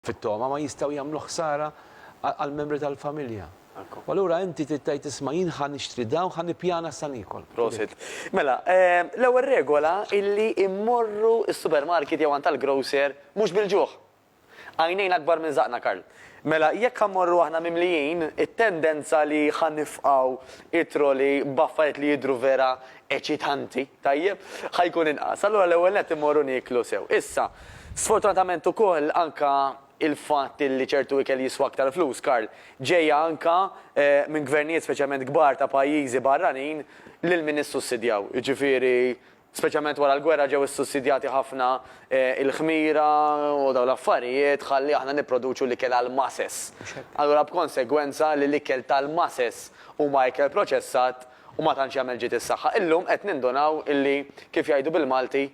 fit-togħma ma jistgħu jagħmlu ħsara għall-membri tal-familja. U allura inti trid tgħid isma' jien ħa nixtri dawn u ħa nippjana sa niekol. Prosit. Mela, l-ewwel regola hi li mmorru s-supermarket jew għand tal-grocer mhux bil-ġuħ. Għajnejna akbar minn żaqqna Karl. Mela, jekk ħa mmorru aħna mimlijin, it-tendenza li ħa nifqgħu t-trolley b'affarijiet li jidhru vera eċitanti. Tajjeb, ħa jkun inqas. Allura l-ewwel nett immorru nieklu sew. Issa, sfortunatament ukoll anka il-fatt illi ċertu ikel jiswa aktar flus, Karl, ġejja anka minn gvernijiet speċjalment kbar ta' pajjiżi barranin lil min issussidjaw. Jiġifieri speċjalment wara l-gwerra ġew issussidjati ħafna il-ħmira u dawn l-affarijiet ħalli aħna nipproduċu l-ikel għall-masses. Allura b'konsegwenza li l-ikel tal-masses huma ikel proċessat, u ma tantx jagħmel ġid is-saħħa. Illum qed nindunaw illi, kif jgħidu bil-Malti,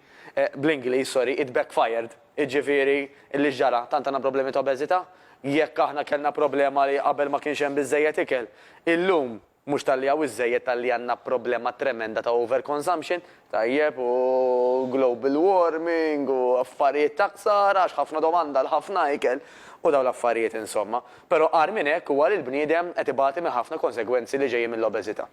bl-Ingliż, sorry, it backfired. Jiġifieri, illi x'ġara? Tant għandna problemi ta' obeżità? Jekk aħna kellna problema li qabel ma kienx hemm biżżejjed ikel, illum mhux talli hawn iżżejjed talli għandna problema tremenda ta' overconsumption, Tajjeb, u global warming u affarijiet ta' ħsara għax ħafna domanda għal ħafna ikel u dawn l-affarijiet insomma. Però agħar minn hekk huwa li l-bniedem qed ibati minn ħafna konsegwenzi li ġejjin mill-obeżità.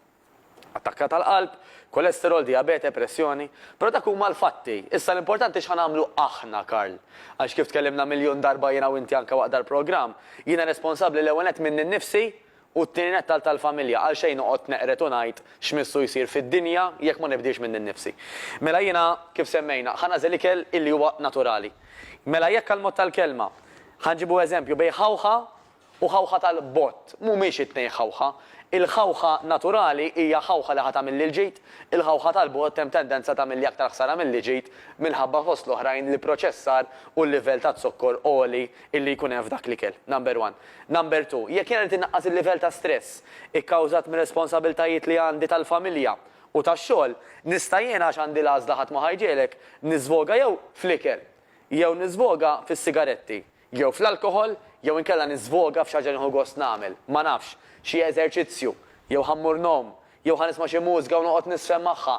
Attakka tal-qalb, kolesterol, dijabete, pressjoni. Però dak huma l-fatti. Issa l-importanti x'ħa nagħmlu aħna, Karl. Għax kif tkellimna miljun darba jiena u inti anke waqt dal-programm, jiena responsabbli l-ewwel nett minni nnifsi U t-tieni nett għal tal-familja, għalxejn noqgħod neqred u ngħid x'missu jsir fid-dinja jekk ma nibdilx minni nnifsi. Mela jiena, kif semmejna, ħa nagħżel ikel illi huwa naturali. Mela jekk għall-mod tal-kelma, ħa nġibu eżempju bejn ħawħa u ħawħa tal-bott, mhumiex it-tnejn ħawħa. Il-ħawħa naturali hija ħawħa li ħa tagħmilli l-ġid, il-ħawħa tal-bott hemm tendenza tagħmilli aktar ħsara milli ġid minħabba fost l-oħrajn l-ipproċessar u l-livell taz-zokkor għoli illi jkun hemm f'dak l-ikel, number one. Number two, jekk jiena rrid innaqqas il-livell ta' stress ikkawżat mir-responsabbiltajiet li għandi tal-familja u tax-xogħol, nista' jiena għax għandi l-għażla ħadd ma ħa jġegħlek, niżvoga jew fl-ikel, jew niżvoga fis-sigaretti, jew fl-alkoħol, jew inkella niżvoga f'xi ħaġa li nieħu gost nagħmel, ma nafx, xi eżerċizzju, jew ħa mmur ngħum, jew ħa nisma' xi mużika u noqgħod niżfen magħha,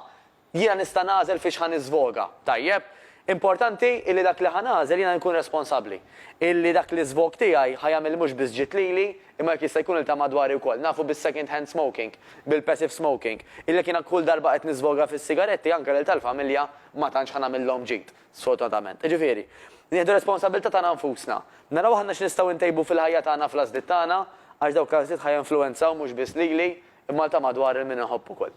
Jiena nista' nagħżel fiex ħa niżvoga, tajjeb? Importanti illi dak li ħa nagħżel jiena nkun responsabbli. Illi dak l-iżvog tiegħi ħa jagħmel mhux biss ġid lili, imma jekk jista' jkun lil ta' madwari wkoll. Nafu bis-second hand smoking, bil-passive smoking, illi jekk jiena kull darba qed niżvoga fis-sigaretti anke lil tal-familja ma tantx ħa nagħmillhom ġid, sfortunatament. Jiġifieri, nieħdu r-responsabbiltà tagħna nfusna. Naraw aħna x'nistgħu ntejbu fil-ħajja tagħna fl-għażliet tagħna, għax dawk l-għażliet ħa jinfluwenzaw mhux biss lili, imma lil ta' madwar lil min inħobb ukoll.